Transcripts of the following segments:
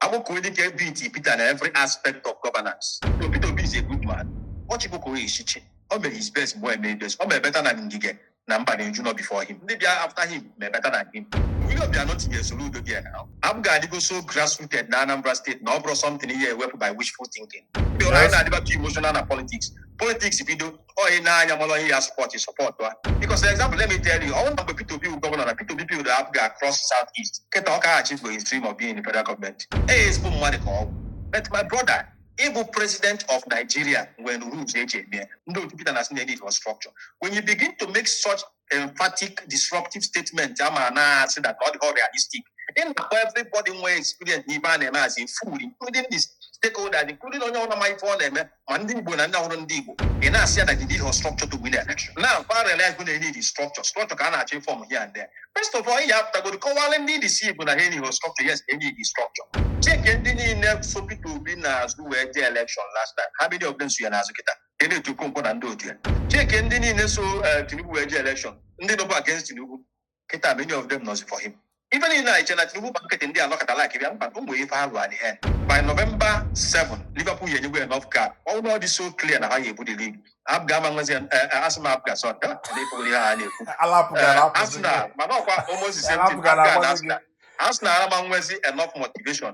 Akpokuedike beat Peter na every aspect of governance. So Peter Obi is a good man. Ọ chịkwa echichi. O mere his best mgbe eme best. O mere better than Ngige na Mbadinuju nọ before him. Ndị bịa after him mere better than him. Willie Obiano tinyere Soludo there na APGA adịgo so grassrooted na Anambra steeti na ọ bụrọ something ị ya-ewepụ by wishful thinking. Ndị anyị na-adịbatụ emotional na politics. Politics bido oyi n'anya mara onye ya sọpọt sọpọtụ a bikos example let me tell you ọ bụrụ na mgbe Peter Obi bụ gọvanọ na Peter Obi build APGA across south east kịta ọ ka ga-achieve his dream of being in the federal gọọmenti e ezigbo mmadụ ka ọ bụ but my brother ịbụ president of Nigeria nwere rules e ji eme ndị otu Peter na-asị na e needirọ structure when you begin to make such emphatic disruptive statement a ma na-asị that ọ dịrọ realistic ị na-akpọ everybody nwee experience n'ife a na-eme as a fool including the stakeholders including onye ọrụ ma ife ọ na-eme ma ndị Igbo na ndị abụrọ ndị Igbo ị na-asị ya na ị needirọ structure to win election now kwa realize go na a need structure structure ka a na-achọ ịform here and there first of all ị ya apụtagoro kọwara ndị DC Igbo na ha need structure yes a need structure check ndị niile so Peter Obi n'azụ wee jee election last time how many of them so ya n'azụ kịta Kenneth Okonkwo na ndị otu ya check ndị niile so eh, Tinubu wee jee elekshọn ndị nọbụ against Tinubu kịta many of them nọzi for him ife niile anyị che na Tinubu gba nkịtị ndị anọkọta like bịa mba ụmụ ife ha lụọ ihe by November 7 Liverpool enyego enough gap ọ bụrụ na ọ dị so clear na ha ga-ebu the league APGA ama nwezi asị m APGA sọ ka na-ekwugo ihe ha na-ekwu alapụga Eh, alapụzi Arsenal mana ọkwa almost the same thing alapụga APGA na alapụzi Arsenal Arsenal ama nwezi enough motivation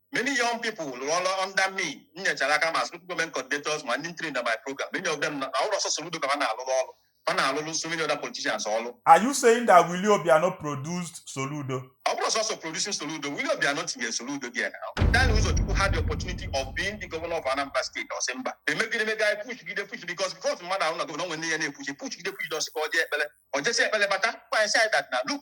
Many young people rụọla under me m nyechara aka ma spiritual government coordinators ma ndị ntiri na my program many of them na ọ bụrọ sọsọ Soludo ka ha na-alụrụ ọrụ ha na-alụrụ so many other politicians ọrụ Are you saying that Willie Obiano produced Soludo? ọ bụrọ sọsọ producing Soludo Willie Obiano tinyere Soludo there na Daniel Uzochukwu had the opportunity of being the governor of Anambra State ọ sị mba emegide emega anyị pushigide push because before mmadụ abụrụ gọvanọ nwere ihe na-epush pushigide pushigide ọ sị ka ọ jee ekpere ọ jesi ekpere bata kpọọ anyị sị anyị that na look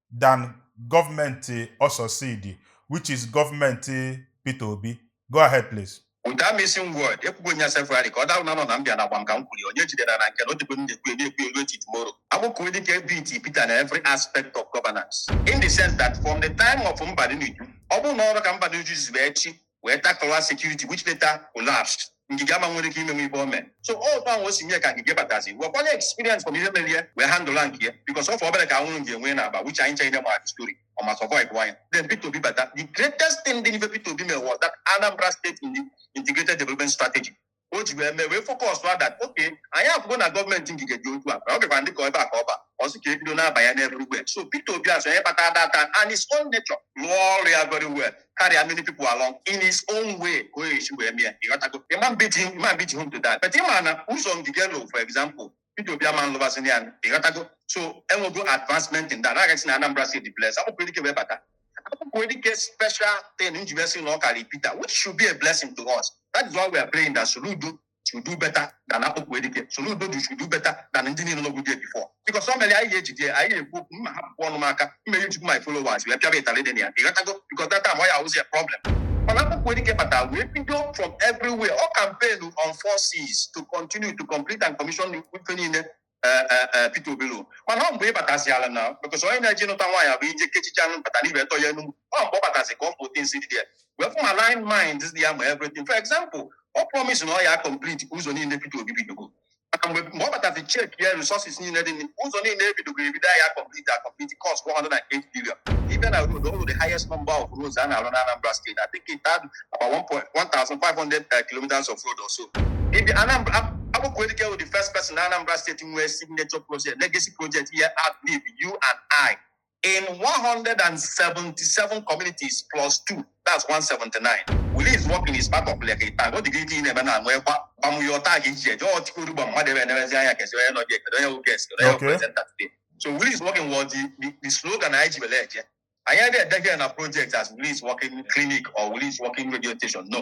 than gọọmenti ọ succeed which is gọọmenti Peter Obi. Go ahead please. Without mincing word, ekwugo m ya severally ka ọ darụ na nọ na mbịa na agbam ka m kwuru ya, onye jidere na nke na o dịbe m na-ekwu ya na-ekwu ya ruo till tomorrow. Akpokuedike beat Peter na every aspect of governance in the sense that from the time of Mbadinuju, ọ bụrụ na ọ bụrọ ka Mbadinuju zube echi wee takụla sekuriti which later collapsed Ngige ama nwere ike ime nwe ife o mee so ọ otu ahụ o si mee ka Ngige batazi wekwala experience from ihe mere ya wee handụla nke ya bikos ọ fọ obere ka e buru Ngige wee naba which anyị ncha niile ma story ọ ma survive kwa ya then Peter Obi bata the greatest thing dị n'ife Peter Obi mere was that Anambra State in the integrated development strategy o ji wee mee wee fokọs that okay anyị afụgo na gọọmenti Ngige dị otu a ọ bịakwara dịka ebe a ka ọ ba ọ sị ka ebido na-aba ya n'ebe ugbe so Peter Obi asị onye kpata data in his own nature lụọ ọrụ ya very well karịa many people along in his own way ka o esi wee mee ịghọtago ịma mbiji ịma mbiji home to that but ịma na ụzọ Ngige lụ for example Peter Obi ama nlụbazini ya ịghọtago so enwego advancement in that agaghị si na Anambra steeti bless Akpokuedike wee bata Akpokuedike special thing nji wee sị na ọ karị Peter which should be a blessing to us that is why we are praying that Soludo should do better than Akpokuedike Soludo should do better than ndị niile nọgbu there before because ọ mere anyị ga-ejide anyị ga-ekwu okwu mma hapụ ọnụ m aka mmeri nchukwu my followers wee pịaba ịtarị dị na ya ịghọtago because that time ọ ya awụzi ya problem mana Akpokuedike batara wee bido from everywhere ọ campaign on four Cs to continue to complete and commission ife niile eh, eh, eh, Peter Obi lụrụ mana ọ mgbe ị batazi ala na because onye na-eji nụta nwaanyị abụ ije kechicha anụ bata n'ibe tọ ya enu ọ mgbe ọ batazi ka ọ bụ things dị there wee fụ ma line mind dị ya ma everything for example ọ promise na ọ ya complete ụzọ niile Peter Obi bidogo maka mgbe mgbe ọ batazi chek ya resources niile dị n'i- ụzọ niile ebidogo ebido ya complete a complete cost 108 billion ibe na road ọrụ the highest number of roads a na-arụ na Anambra steeti I think it had about 1.- 1,500 uh, kilometers of road or so Ibi Anambra Ab- Akpokuedike was the first person na Anambra steeti nwee signature project legacy project ihe outlive you and I in 177 communities plus two that's 179 Willie is working is part of like a tag ọ dị gị ike ị na-eme na nwee gba gbamụ ya ọta gị iche jọọ chikoru gba mmadụ ebe enerezi anya kezi onye nọ dị ekele onye wụ guest onye wụ Okay. presenter today so Willie is working was the, the, the slogan anyị ji were eje anyị adịghị ede here na project as Willie is working clinic or Willie is working radio station no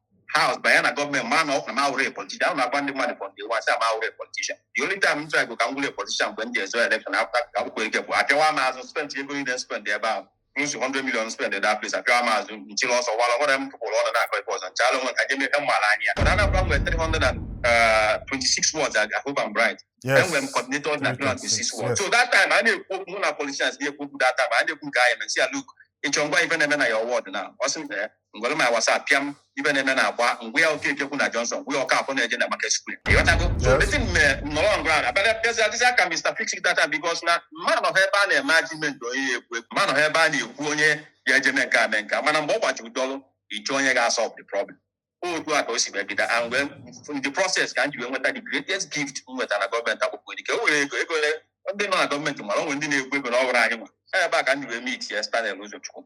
house banye na gọọmenti ma na ọkwa na awụrọ a politician ahụ na-agwa ndị mmadụ from day one sị na m awụrọ a politician the only time m try go ka m wụrụ a politician mgbe m ji azọ election afta ka m kwere ike bụ apịawa m azụ spend ego niile spend ebe ahụ nsi 100 million spend that place apịawa m azụ nchiri ọsọ wala nwere m pụpụrụ ọnụ na-akọ ebe ọzọ nchala onwe ka jeme m mara anya mana Anambra nwere 326 wards I hope I'm right Yes. enwere m coordinator na 326 wards Yes. so that time a na-ekwu okwu mụ na politicians na-ekwu okwu that time a na-ekwu nke anyị na si ya look ịchọ ngwa ife na-eme na ya ward na ọ sị m na ya ngwere my WhatsApp pịa m ife na-eme na agba ngwa ya oke ekekwu na Johnson ngwa ya ọka afọ na-eje na Market Square ịghọtago so Yes. dịtị mme nọrọ ngwa ahụ abịa bịazi adịzi ka Mr. Fix It data because na mụ anọhọ ebe a na-eme argument onye ya ekwu ekwu mụ anọhọ ebe a na-ekwu onye ya eje mee nke a mee nke a mana mgbe ọ gbajiri dọlụ ịchọ onye ga-asọlve the problem otu a ka o si wee bido and wee in the process ka m ji wee nweta the greatest gift m nweta na gọọmenti Akpokuedike e nwere ego ego ole ndị nọ na gọọmenti mara onwe ndị na-ekwu ego na ọ bụrụ anyị nwa ebe a ka m ji wee meet ya Stanley Uzochukwu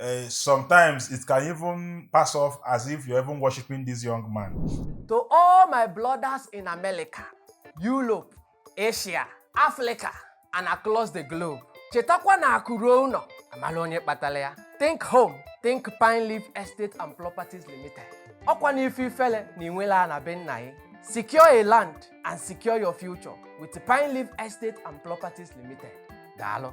Uh, sometimes it can even pass off as if you're even worshiping this young man. To all my brothers in America, Europe, Asia, Africa, and across the globe, chetakwa na akụ ruo ụnọ amalụ onye kpatalụ ya think home think Pineleaf estate and properties limited ọkwa na ife ifele na i nwelọ ana be nna gị secure a land and secure your future with Pineleaf estate and properties limited daalụ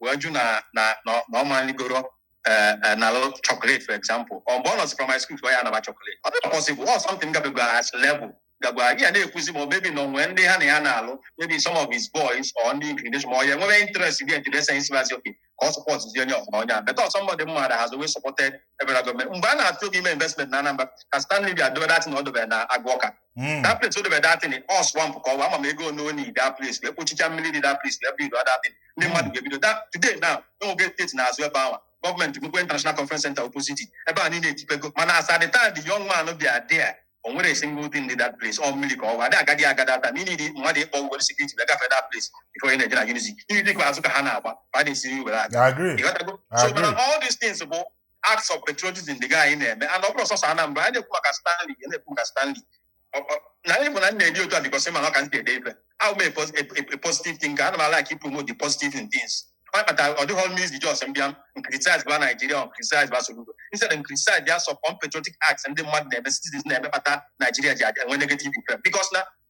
wee jụ na na na na ọ maligoro eh, eh, na lụ chocolate for example ọ mgbe ọ nọzi primary school ka ọ ya anaba chocolate ọ dịghị possible ọ something gabegara as level gagwara gị ya na-ekwuzi ma ọ maybe na o nwe ndị ha na ya na-alụ maybe some of his boys or ndị inclination ma ọ ya enwebe interest gị ntụrụ ese isi mazi oke ka ọ support zi onye ọfụma onye a beta ọsọ mmadụ mma da has always supported federal gọọmenti mgbe a na-atụ egwu ime investment na Anambra ka Stanley bịa dobe that thing ọ dobere na Agụ Awka Mm. that place o dobe that thing ọ swamp ka ọ bụ ama m ego one only that place wee kpochicha mmiri dị that place wee build that thing ndị mmadụ ga-ebido that today now e nwego estate n'azụ ebe ahụ gọọmenti mekwa international conference center opposite ebe a niile etipego mana as at the time the young man bịa there o nwerọ single thing dị that place ọ mmiri ka ọ bụ adị agadi agada ata mmiri dị mmadụ ịkpọ were security wee gafee that place before ị na-eje na unity unity kwa azụ ka ha na-agba ka a na-esiri were aga I agree. ịghọtago so Agree. mana all these things bụ acts of patriotism ndị anyị na-eme and ọ bụrọ sọsọ Anambra anyị na-ekwu maka Stanley ya na-ekwu maka Stanley Ọ- ọ- na anyị bụ na m na-ede otu a because ma na ọ ka m si ede ife abụ m a pos- a- a- a positive thinker ana m a-like ị promote the positive in things ọ kpatara ọ dịghị m easy just m bịa m criticize ba Nigeria m criticize ba Soludo instead m criticize their some unpatriotic acts ndị mmadụ na-eme citizens na-eme kpata Nigeria ji adị- enwe negative effect because na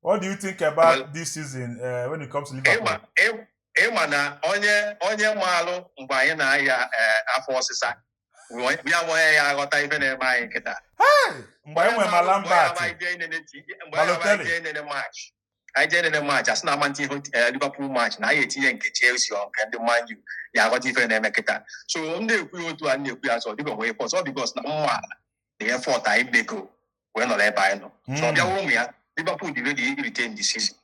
What do you think about Well- this season uh, when it comes to Liverpool? ịma ị- ịma na onye onye maalụ mgbe anyị na-aya eh, afọ ọsịsa wee- ya nwee ya aghọta ife na-eme anyị kịta Hey! Mgbe anyị nwere ma Lambert, Balotelli. enene match anyị jee enene match a sị na a ma-eti ihe eh, Liverpool match na a ya-etinye nke Chelsea or nke ndị Man U ya aghọta ife na-eme kịta so m na-ekwu ya otu a m na-ekwu ya sọ dịka onwe pọs ọ because na m maalụ na effort anyị mego wee nọrọ ebe anyị nọ so ọ hmm. bịawa ụmụ ya Liverpool dị ready irite the season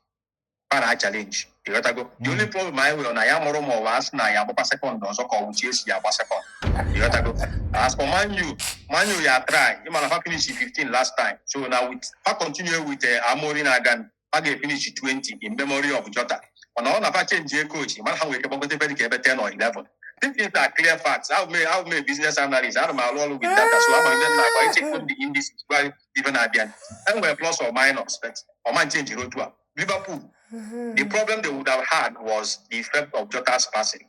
para a challenge ịghọtago the hmm. only problem anyị nwere na anyị amarọ ma ọ wụ Arsenal ya-agbakwa second ọzọ ka ọ wụ Chelsea ya-agba second ịghọtago as for Man U Man U ya try ị ma na ha finish 15 last time so na with ha continue with eh, Amorim again a ga-efinish 20 in memory of Jota mana ọ na-afa chenji ego ochi mara ha nwere ike gbagote ebe dịka ebe 10 or 11 These things are clear facts. I've made, I've made business analysis. I don't know all with data. So I'm going to I check on the indices. Well, even Abian. And we're plus or minus, but or man change road to Liverpool. The problem they would have had was the effect of Jota's passing.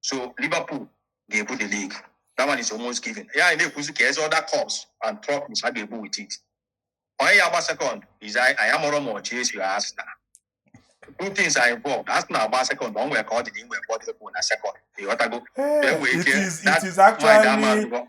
so Liverpool ga-ebu the league that one is almost given ya anyị na-ekwuzi kịta is other cups and trophies ha ga-ebu with it onye ya-agba second is anyị anyị amarọ ma ọ Chelsea or Arsenal two things are involved Arsenal agba second o nwere ka ọ dị na inwe bọdụ na second ịghọtago Hey, Then we it can- is it that is mind ama actually adịghọ.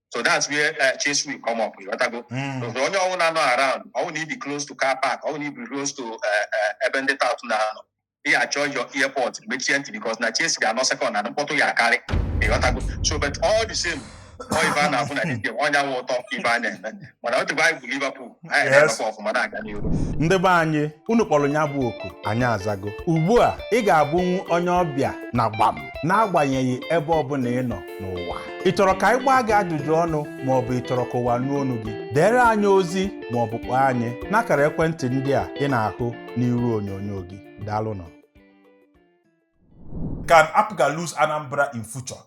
so that's where uh, Chelsea will come up ịghọtago Mm. Because onye ọwụna nọ around ọ wụ na i bi close to car park ọ wụ na i bi close to uh, uh, ebe ndị tout na-anọ ị achọ your earpod mechie ntị because na Chelsea ga-anọ second na mkpọtụ ya-akarị ịghọtago so but all the same ọ ife a na-afụ na league ọ nya wụ ụtọ ife a na-eme mana otu anyị bụ Liverpool anyị Yes. na-emekwa ọfụma na-aga n'ihu ndị be anyị unu kpọrọ ya bụ oku anyị azago ugbu a ị ga-abụnwu onye ọbịa na Gbam n'agbanyeghị ebe ọbụla ị nọ n'ụwa ị chọrọ ka anyị gbaa gị ajụjụ ọnụ ma ọ bụ ị chọrọ ka ụwa nụ olu gị deere anyị ozi ma ọ bụ kpọọ anyị n'akara ekwentị ndị a ị na-ahụ n'iru onyonyo gị daalụnụ Can APGA lose Anambra in future?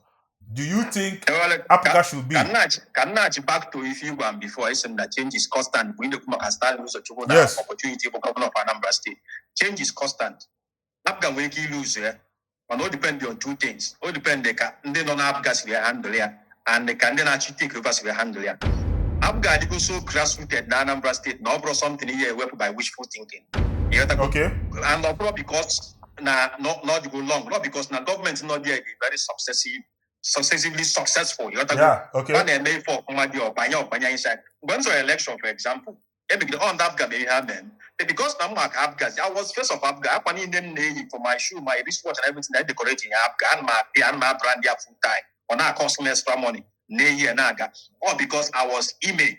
do you think Ewele, ka- APGA should be? ka m nachi ka m nachi back to ife ị gwa m before asị m na change is constant mgbe ị na-ekwu maka Stanley Uzochukwu na Yes. opportunity bụ gọvanọ of Anambra steeti change is constant apga nwere ike ilu ụzọ ya mana o depend on two things o depend ka ndị nọ na apga siri ya handle ya and ka ndị na-achọ itake over siri ya handle ya apga adịgo so grassrooted na Anambra steeti na ọ bụrọ something ị ya-ewepụ by wishful thinking ị ghọtago Okay. and ọ bụrọ because na ọ nọdịgo long ọ because na gọọmenti nọ there dị very successive successively successful you understand? Yeah, okay. ọ na-eme ife ọfụma dị ọ banye ọ banye inside mgbe m zọrọ election for example emegide ọ ndị apga mere ihe ha mere m. But because na a ma m ka apga i was face of apga akwa niile m na-eyi from my shoe my wristwatch and everything i decorate in apga ana m apị ana m abrand ya full time ọ na-akọs m extra money na-eyi ya na-aga ọ because i was image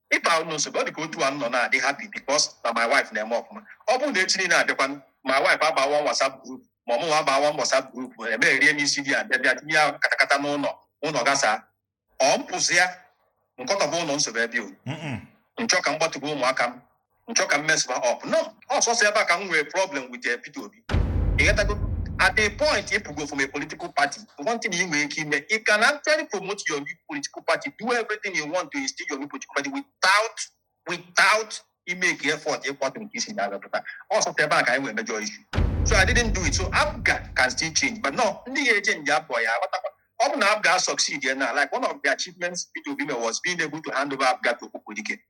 Ịta ụlọ nsogbu ọ dị ka otu a m nọ na-adị happy because na my wife na-eme ọfụma. Ọ bụrụ na echi niile abịakwanụ, my wife abaa one WhatsApp group ma ọ mụnwa abaa one WhatsApp group emegherie m isi di ya bịa bịa tinye ya katakata n'ụlọ ụlọ gasaa. Ọ m pụsịa m kọtọba ụlọ nsogbu ebe o. Mm-mm. M chọ ka m gbatụba ụmụaka m m chọ ka m mess ma up no ọ sọsọ ebe a ka m nwere problem with eh, Peter Obi ị ghọtago at a point ị pụgo from a political party one thing ị nwere ike ime you can actually promote your new political party do everything you want to instill your new political party without without imake effort ịkwada nke i si na ya pụta ọ sọsọ ebe a ka anyị nwere major issue so I didn't do it so APGA can still change but no ndị ga-echenji APGA ya-aghọtakwa ọ bụ na APGA succeed ya na like one of the achievements Peter Obi mere was being able to hand over APGA to Akpọkuedike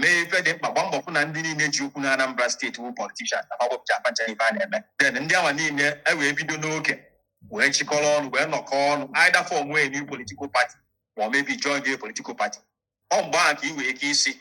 mee ife dị mkpa gba mbọ fụ na ndị niile ji okwu na Anambra steeti wụ politishan na mawepụcha apacha ife a na-eme den ndị ahụ niile e wee bido n'oge wee chịkọrọ ọnụ wee nọkọọ ọnụ either fọmụa new political party ma ọ maybe join the political party ọ mgbe ahụ ka ị nwere ike ịsị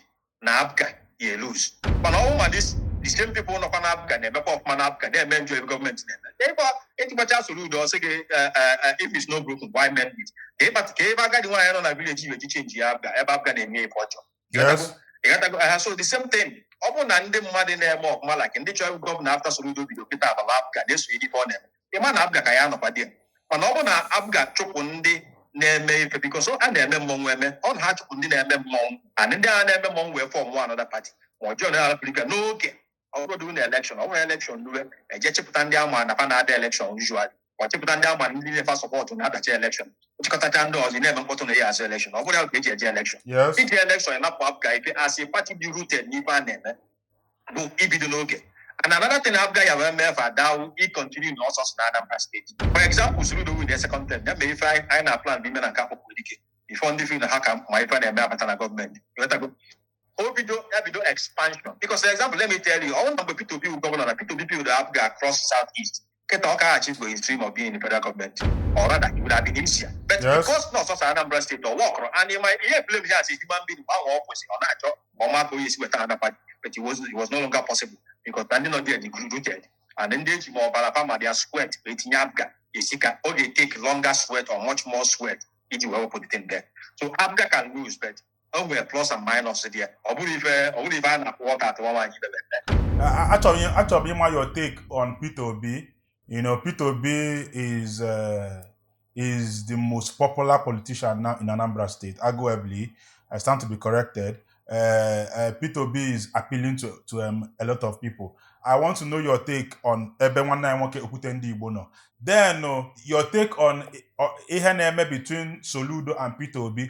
na apga ya-eluz mana ọ bụ na dis the same people nọkwa na apga na-emekwa ọfụma na apga na-eme njọ ebe gọọmenti na-eme ịgba ịtịkpacha Soludo ọ sị gị eh, eh, eh, if it's not broken why mend it ka ịkpata ka ebe agadi nwaanyị nọ na vileji i wee ji chenji ya apga ebe apga na-eme ife ọ chọọ Yes. Ị ghọtago? Aha, so the same thing ọ bụrụ na ndị mmadụ na-eme ọfụma like ndị chọrọ ịbụ gọvanọ afta Soludo bido kịta abala apga na-esonye ife ọ na-eme ị ma na apga ka ya-anọkwa there mana ọ bụrụ na apga chụpụ ndị na-eme ife bikos ha na-eme mmọnwụ eme ọ na ha chụpụ ndị na-eme mmọnwụ and ndị ahụ na-eme mmọnwụ wee fọmụa anọda pati ma ọ join arapụrika n'oge ọ bụrọ na elekshọn ọ nwere elekshọn lue e je chịpụta ndị a ma na fa na-ada elekshọn usual ọ chịpụta ndị a ma ndị na-efa sọpọtụ na-adachi elekshọn chịkọtacha ndị ọzọ ị na-eme mkpọtụ na ị ya-azọ elekshọn ọ bụrọ ya ka e ji eje elekshọn yes iji elekshọn napụ apga ife asị pati dị rooted n'ife a na-eme bụ ibido n'oge and another thing apga ya wee mee fa dawu ịkọntinu na ọsọ sọ na anambra steeti for example Soludo winịa second term ya mee ife anyị anyị na plan ime na nke Akpọkuedike bifo ndị feel na ha ka ma ife a na-eme abata na gọọmenti Ị ghọtago? o bido ya bido expansion because for example let me tell you ọ bụrụ na mgbe Peter Obi bụ gọvanọ na Peter Obi build APGA across south east kịta ọ ka-achieve his dream of being in the federal government or rather it would have been easier but Yes. because na ọ sọọsọ Anambra steeti ọ workọrọ and ị ma-eblame ya as a human being mgbe ahụ ọ kwụsị ọ na-achọ ma ọ ma ka onye esi weta na APGA but it was, it was no longer possible because na ndị nọ there dị rooted and ndị a ji ma ọbara fa ma their sweat wee tinye APGA esi ka ọ ga-etake longer sweat or much more sweat iji wee wepụta the thing there so APGA can lose but o nwere plus and minus dị ya ọ bụrụ ife ọ bụrụ ife a na-ekwu ọka atụwa nwaanyị bebe mbe achọrọ m achọrọ m ịma your take on Peter Obi you know Peter Obi is uh, is the most popular politician now in Anambra State arguably I stand to be corrected uh, uh, Peter Obi is appealing to to um, a lot of people I want to know your take on ebe nwanne anyị nwoke okwute ndị Igbo nọ then uh, your take on uh, ihe na-eme between Soludo and Peter Obi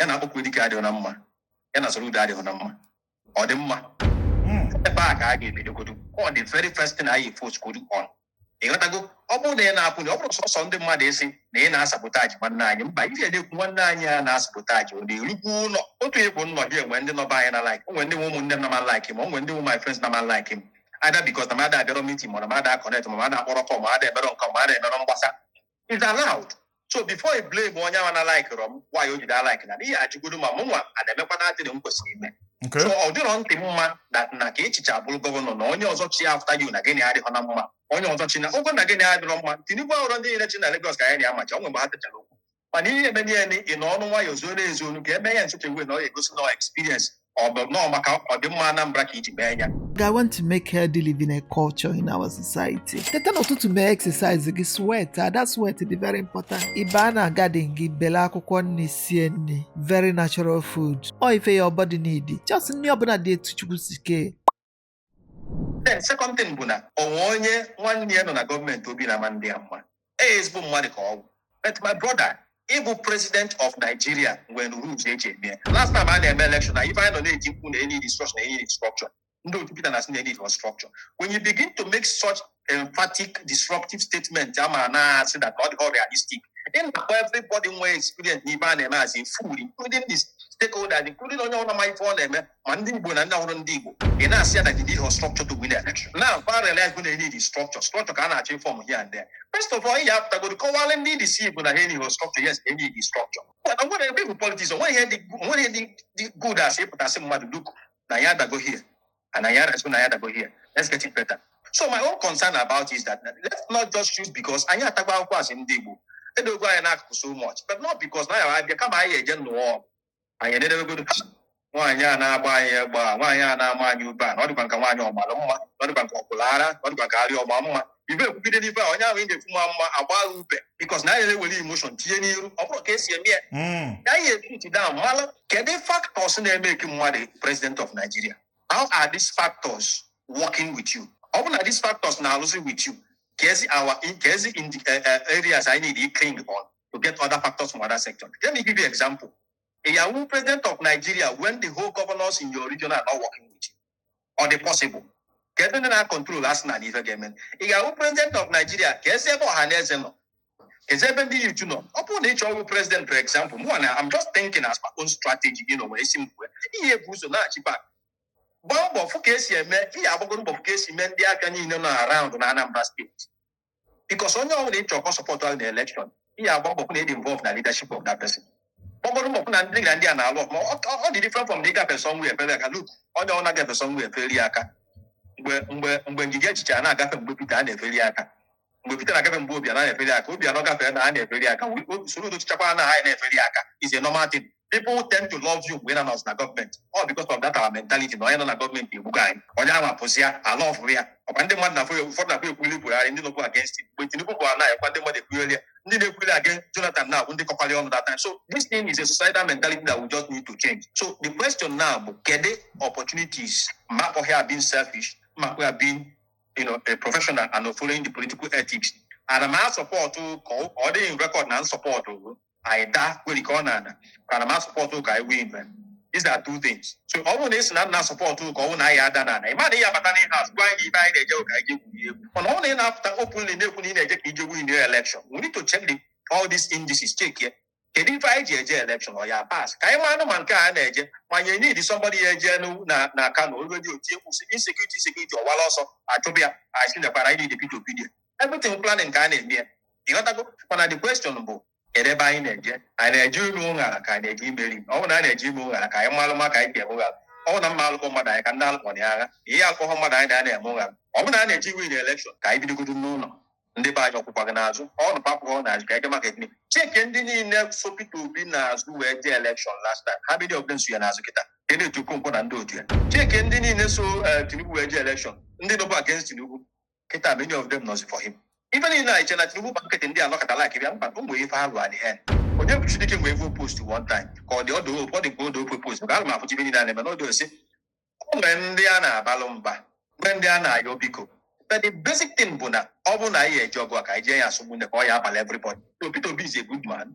ya na Akpokuedike adịghị na mma ya na Soludo adịghị na mma ọ dị mma Mm. ebe a ka a ga-ebidogodu ọ dị very first thing anyị focusgodu on ịghọtago ọ bụrụ na ị na-apụ na ọ bụrụ sọsọ ndị mmadụ esi na ị na-asabotage nwanne anyị mba ihe na-ekwu nwanne anyị a na-asabotage ọ na-erukwu ụlọ otu ịbụ nnọ dị enwe ndị nọba anyị na like o nwe ndị bụ ụmụnne m na-ama like m o nwe ndị bụ my friends na-ama like m either because na m ada abịarọ meeting ma na m ada connect ma m ada akpọrọ call ma ada emere nke ma ada emere mgbasa is allowed so before i blame onye ahụ na-alikerọ m why o ji ada alike na n'ihi ajụgodu ma mụnwa a na-emekwa na dịịrị m kwesịrị ime Okay. so ọ dịrọ ntị mma na na ka ị chịchaa bụrụ gọvanọ na onye ọzọ chị after you na gị na ya adịrọ na mma onye ọzọ chịgo na gị na ya adịrọ mma Tinubu a họrọ ndị niile chị na Lagos ka anyị na-amacha o nwe mgbe ha sechara okwu mana ihe eme niile ị nọnụ nwayọ zuo na-ezu onu ka eme ya nsoche wee na ọ ga-egosi na experience ọ bụ nọọ maka ọdịmma Anambra ka iji mee ya I want to make healthy living a culture in our society. Teta n'ụtụtụ mee exercise gị sweatịa that sweat dị very important. Ị ba na garden gị bele akwụkwọ nni sie nni very natural food. Ọ ife your body need. Just nni ọbụla dị etu Chukwu si kee. then second thing bụ na o nwe onye nwanne ya nọ na gọọmenti obi na-ama adị ya mma ee ezigbo mmadụ ka ọ bụ but my brother ịbụ president of nigeria nwere rules e ji eme ya. last time a na-eme election na ife anyị nọ na-eti mkpu na e need structure na e need structure ndị otu Peter na-asị na e needrọ structure when you begin to make such emphatic disruptive statement a ma na-asị that ọ dịrọ realistic ị na-akpọ everybody nwere experience n'ife a na-eme as a fool including the stakeholders including onye ọbụla ma ife ọ na-eme ma ndị igbo na ndị abụrọ ndị igbo ị na-asị ya na you need a structure to win election na fa realize bụ na e need structure structure ka a na-achọ iform here and there first of all ị ga-apụtagodu kọwaara ndị isi igbo na e need structure yes e need structure But nwere ebe bụ politics onweghị ihe dị onweghị ihe dị- dị good as ịpụta sị mmadụ look na ya adago here and I had soon I had go here. Let's get it better. So my own concern about is that let's not just choose because anyị atakwa ahụhụ as ndị Igbo. Edogo anyị n'akụkụ so much, but not because na ya abịa kama anyị eje nụọ anyị enedebegodo ha nwaanyị a na-agba anyị egbe nwaanyị a na-ama anyị ube a na ọ dịkwa nka nwaanyị ọgbara mma na ọ dịkwa nka ọkwụla ara na ọ dịkwa nka arịa ọgba mma ibe ekwugide n'ife a onye ahụ ị na-ekwu ma mma agba agha ube because na anyị na-ewere emotion tinye n'iru ọ bụrụ ka esi eme ya Mm. ka anyị ekwutu da mmalụ kedu factors na-emake mmadụ president of Nigeria how are these factors working with you ọ bụ na these factors na-alụzi with you keezi our keezi in the, eh, eh, areas anyị need to cling on to get other factors from other sectors let me give you example ị ya-awụ president of Nigeria when the whole governors in your region are not working with you ọ dị possible kee ebe ndị na-acontrol asị na ife ga-eme ị ga-awụ president of Nigeria keezi ebe Ọhanaeze nọ keezi ebe ndị youth nọ ọ bụrụ na ị chọọ ịwụ president for example mụwa I'm just thinking as my own strategy gị n'onwe isi m kwue ị ya-ebu ụzọ naachi back gbaa mbọ fụ ka esi eme ị ya-agbagodo mbọ fụ ka esi mee ndị aka niile nọ around na Anambra State because onye ọbụla ị chọrọ ka ọ support gị na election ị ya-agba mbọ hụ na ị dị involved na leadership of that person agbagodo mbọ hụ na ndị na ndị a na-alụ ọfụma Ọ- ọ ọ dị different from na ị gafe sọ nwa efere aka like onye ọ na-agafe sọ nwa efere ya aka mgbe mgbe mgbe Ngige chịcha na-agafe mgbe Peter a na-efere ya aka mgbe Peter na-agafe mgbe Obiano a na-efere ya aka Obiano na-agafe na a na-efere ya aka Soludo chịchakwa na ha na-efere ya aka is a normal thing people tend to love you mgbe ị na-anọzi na gọọmenti ọ because of that our mentality na onye nọ na gọọmenti egbugo anyị onye ahụ apụzi ya ala ọfụrụ ya ọ kwa ndị mmadụ na-afụ ya ụfọdụ na-afụ ekwuli Buhari ndị nọkwu against him mgbe Tinubu bụ ala ekwa ndị mmadụ ekwugheri ya ndị na-ekwuli against Jonathan na bụ ndị kọkwara ọnụ that time so this thing is a societal mentality that we just need to change so the question now bụ kedu opportunities ma akpọghị ya being selfish ma akpọghị ya being you know, a professional and following the political ethics ana m asupport ka ọ dị na record na m support anyị daa nwere ike ọ na-ada ana m asupport ka anyị win man these are two things so ọ bụrụ na ị sị na nna support ka ọ bụrụ na anyị ada na ana ị ma na ihe abata n'ihe azụ gwa anyị ebe anyị na-eje ka anyị gwuri egwu mana ọ bụrụ na ị na-apụta openly na-ekwu na ị na-eje ka i je win your election we need to check the, all these indices check ya kedu ife anyị ji eje election ọ ya pas ka anyị maanụ ma nke a na-eje ma anyị need somebody ya eje nu- na na Kano olu dị otie kwụsị insecurity insecurity ọwala ọsọ achụbịa anyị si nekwara anyị need Peter Obi there. everything planning ka a na-eme ya ịghọtago mana the question bụ kedu ebe anyị na-eje anyị na-eje ime ụṅara ka anyị na-eje imeri ọ bụrụ na anyị na-eje ime ụṅara ka anyị malụ ma ka anyị ga-eme ụṅara ọ bụrụ na mma alụkọ mmadụ anyị ka ndị alụkọ na ya agha ihe akọhọ mmadụ anyị na ya na-eme ụṅara ọ bụrụ na a na-eje win election ka anyị bidogodo n'ụlọ ndị be anyị ọ kwụkwa gị n'azụ ọ nụ papụrụ n'azụ ka ege maka ekene check ndị niile so Peter Obi n'azụ wee jee election last time ha bido ọbụla na-eso ya n'azụ kịta Kenneth Okonkwo na ndị otu ya check ndị niile so eh, Tinubu wee jee election ndị nọbu against Tinubu kịta many of them nọzi for him ife niile anyị che na tinubu gba nkịtị ndị anọkọta like bịa mba o nwere ife ha lụọ adịghị onye bụ chidike nwee ife o post one time ka ọ dị ọdụ opu ọ dị ka odo opu post ka a ma afụchi ife niile a na-eme n'odo osi o nwere ndị a na-abalụ mba nwee ndị a na-ayọ biko but the basic thing bụ na ọ bụrụ na anyị eje ọgụ a ka anyị jee ya as ụmụnne ka ọ ya abalụ everybody so Peter Obi is a good man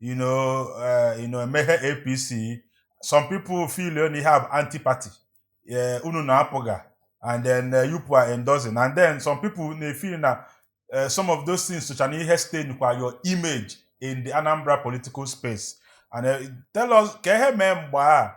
you know uh, you know emeghe apc some people feel you only have anti-party uh, unu na apụga and then uh, you are endorsing and then some people na feel na uh, some of those things socha na ihe stain kwa your image in the anambra political space and uh, tell us ka ihe mee mgbe a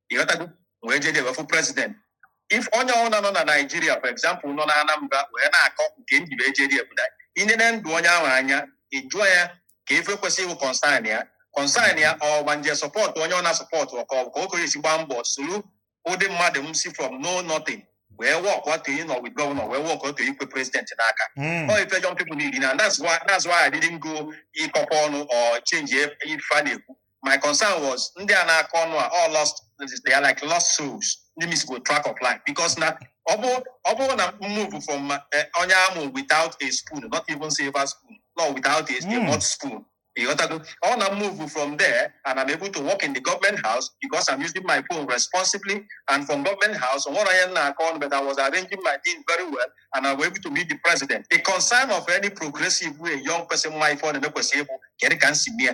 ị ghọtago wee jee jee wee fụ president if onye ọbụla nọ na Nigeria for example nọ na anambra wee na-akọ nke ndị bụ ejeri Abuja ị nene ndụ onye ahụ anya ị jụọ ya ka ife kwesịrị ịbụ concern ya concern ya ọ ma nje support onye ọ na-asupport ọka ọ bụ ka o kere esi gbaa mbọ soro ụdị mmadụ m si from no nothing wee work up to ịnọ with governor wee work up to ikwe president n'aka Mm. ọ ife young people need na that's why that's why I didn't go ịkọkọ ọnụ or change ife a na-ekwu my concern was ndị a na-akọ ọnụ a all lost they are like lost souls ndị miss go track of life because na ọ bụ ọ bụrụ na move from uh, onye amụ without a spoon not even silver spoon no without a, mm. a hot spoon ịghọtago ọ na move from there and I'm able to work in the government house because I'm using my phone responsibly and from government house on what I am now on but I was arranging my things very well and I was able to meet the president the concern of any progressive way young person my phone and ekwesị ịbụ kedu ka m si mee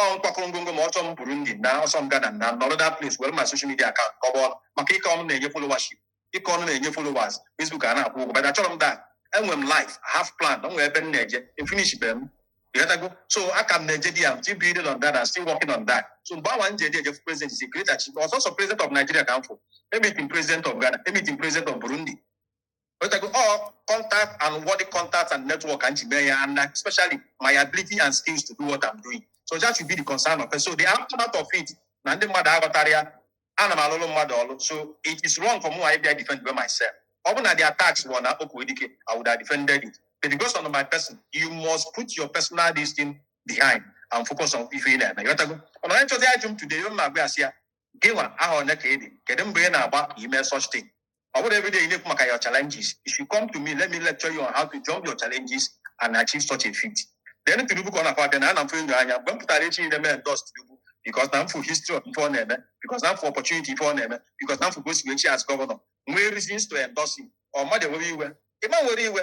ọ m kwakọ ngwongwo ma ọ sọ m Burundi ma ọ sọ m Ghana na nọrọ that place were my social media account kọba ọnụ maka ịkọ ọnụ na-enye followership ịkọ ọnụ na-enye followers Facebook a na-akwụ ụgwọ but achọrọ m that enwere m life half plan o nwere ebe m na-eje efinish be m ị ghọtago so aka m na-eje there I'm still building on that and still working on that so mgbe awa m ji eje eje president is a great achievement ọ sọsọ president of Nigeria ka m fụ emeet m president of Ghana emeet m president of Burundi Wetago all contact and worthy contact and network m ji eme ya and uh, especially my ability and skills to do what I'm doing. So that should be the concern of it. So the aftermath of it, na ndị mmadụ aghọtarọ ya, ana m alụlụ mmadụ ọlụ. So it is wrong for me ịbịa defendba myself. Ọ bụ na the attacks were na Okwudike, I would have defended it. But because of my person, you must put your personal this thing behind and focus on ife ị na-eme. Ghọtago? Ọ na onye nchọzi ajụ m today, ife m na-agwa ya sị ya, Gịnwa afọ one ka ị dị? Kedu mgbe ị na-agba ka ime such thing? Ọ bụrụ every day ị na-ekwu maka your challenges, you should come to me, let me lecture you on how to jump your challenges and achieve such a feat. Then Tinubu ka ọ na-akwa abịa na ana mfe enyo anya mgbe m pụtara echi na m endorse Tinubu because na m fụ history of ife ọ na-eme because na m fụ opportunity ife ọ na-eme because na m fụ ka o si wee chi as governor nwee reasons to endorse him ọ mmadụ ewere iwe ị ma were iwe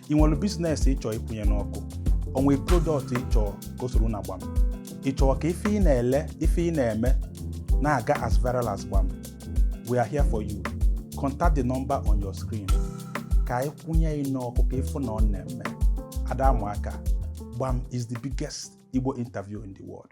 ị nwere business ị chọ ịkwụnye n'ọkụ o nwee product ị chọ ka o soro na gbam ị chọọ ka ife ị na-ele ife ị na-eme na-aga as viral as gbam we are here for you contact the number on your screen ka anyị kwụnye ị n'ọkụ ka ị fụ na ọ na-eme ada amụ aka gbam is the biggest Igbo interview in the world